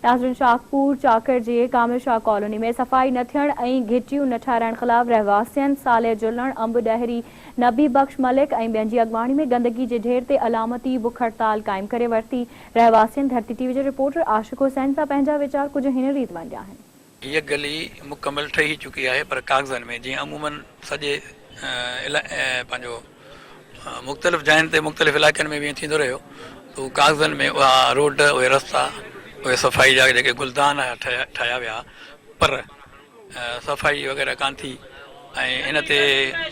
ناظرين شاهپور چاڪر جي ڪامل شاهه ڪالوني ۾ صفائي نه ٿيڻ ۽ گهٽيون نه ٺهرائڻ خلاف رهواسين صالح جلڻ، انب ڏهري، نبي بخش ملڪ ۽ ٻين جي اڳواڻي ۾ گندگي جي ڍير تي علامتي بک هڙتال قائم ڪري ورتي. رهواسين ڌرتي ٽي وي جي رپورٽر عاشق حسين سان پنهنجا ويچار ڪجهه هن ريت ونڊيا آهن. هيء گلي مڪمل ٺهي چڪي آهي پر ڪاغذن ۾ جيئن عموماً سڄي پنهنجو مختلف جاين تي مختلف علائقن ۾ به ائين ٿيندو رهيو ته هو ڪاغذن ۾ اها روڊ اهي رستا اهي صفائي جا جيڪي گلدان ٺهيا ويا پر صفائي وغيره ڪانه ٿي ۽ ان تي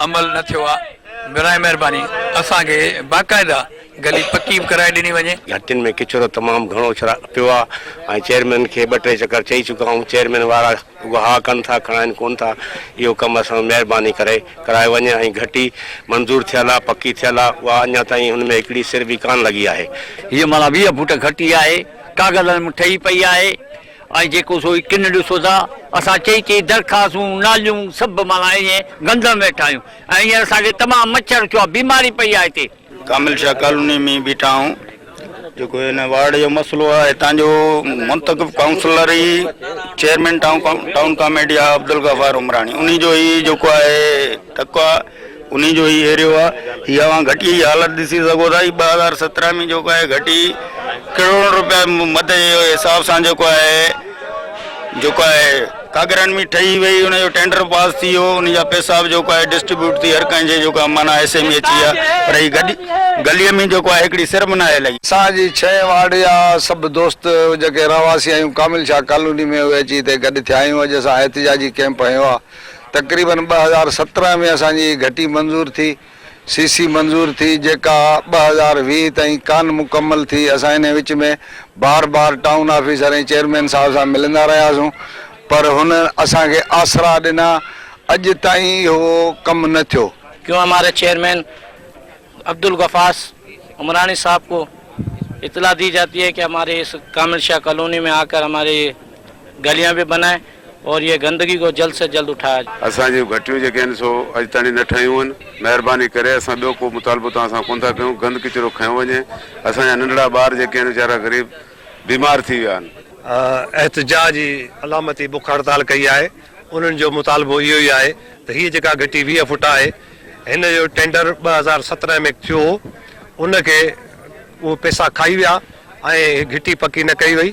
عمل نه ٿيو آهي براء مهرباني اسان کي باقاعده گلي پڪي به ڪرائي ڏني وڃي. گهٽين ۾ ڪچرو تمام گهڻو پيو آهي ۽ چيئرمين کي ٻه ٽي چڪر چئي چڪا آهيون چيئرمين وارا رڳو ها ڪن ٿا کڻائين ڪون ٿا اهو ڪم اسان مهرباني ڪري ڪرايو وڃي ۽ گهٽي منظور ٿيل آهي پڪي ٿيل آهي اها اڃا تائين ان ۾ هڪڙي سر به ڪانه لڳي آهي. هيء معنيٰ ويهه فوٽ گهٽي آهي ڪاغذن ۾ ٺهي پئي آهي. ۽ جيڪو سو ئي ڪن ڏسو ٿا. اسان چئي چئي درخواستون، ناليون سڀ معنيٰ ائين گندم ويٺا آهيون ۽ هينئر اسان کي تمام مڇر ٿيو آهي، بيماري پئي آهي هتي. ڪامل شاهه ڪالوني ۾ بيٺا آهيون، جيڪو هن وارڊ جو مسئلو آهي، هتان جو منتخب ڪائونسلر ئي چيئرمين ٽائون ڪاميٽي آهي عبدالغفار عمراڻي، انهي جو ئي جيڪو آهي ٽڪو آهي. انهي جو هي ايريو آ. هي اوهان گهٽيء جي حالت ڏسي سگهو ٿا. هي ٻه هزار سترهن ۾ جيڪو آهي گهٽي ڪروڙن روپيا مت جي حساب سان جيڪو آهي جيڪو آهي ڪاڳرن ۾ ٺهي وئي. ان جو ٽينڊر پاس ٿي ويو. ان جا پئسا به جيڪو آهي ڊسٽريبيوٽ ٿي هر ڪنهن جي جيڪو آهي معنيٰ حصي ۾ اچي ويا. پر هي گهٽي گليء ۾ جيڪو آهي هڪڙي سر به ناهي لڳي. اسان جي ڇهين وارڊ جا سڀ دوست جيڪي رهواسي آهيون ڪامل شاهه ڪالوني ۾ اهي اچي هتي گڏ ٿيا آهيون. اڄ اسان احتجاجي ڪئمپ هنيو آ. تقريبن ٻه هزار سترهن ۾ اسان جي گهٽي منظور ٿي، سي سي منظور ٿي، جيڪا ٻه هزار ويهه تائين ڪانه مڪمل ٿي، اسان انهي وچ ۾ بار بار ٽائون آفيسر ۽ چيئرمين صاحب سان ملندا رهياسون پر هن اسان کي آسرا ڏنا، اڄ تائين اهو ڪم نه ٿيو. ڪيو همارا چيئرمين. عبدالغفاس عمراڻي صاحب ڪو اطلاع دي جاتي هي ڪي هماري اس ڪامل شاهه ڪالوني مين آڪر هماري يه گليان به بنائي اور يه گندگي ڪو جلد سي جلد اٺايا جائي. اسان جون گهٽيون جيڪي آهن سو اڄ تائڻي نه ٺهيون هن مهرباني ڪري اسان ٻيو ڪو مطالبو توهان سان ڪون ٿا ڪيون گند ڪچرو کنيو وڃي اسان جا ننڍڙا ٻار جيڪي آهن ويچارا غريب بيمار ٿي ويا آهن. احتجاج جي علامتي بک هڙتال ڪئي آهي انهن جو مطالبو اهو ئي آهي ته هي جيڪا گهٽي ويهه فوٽ آهي هن جو ٽينڊر ٻه هزار سترهن ۾ ٿيو هو ان کي اهي پيسا کائي ويا ۽ گهٽي پڪي نه ڪئي وئي.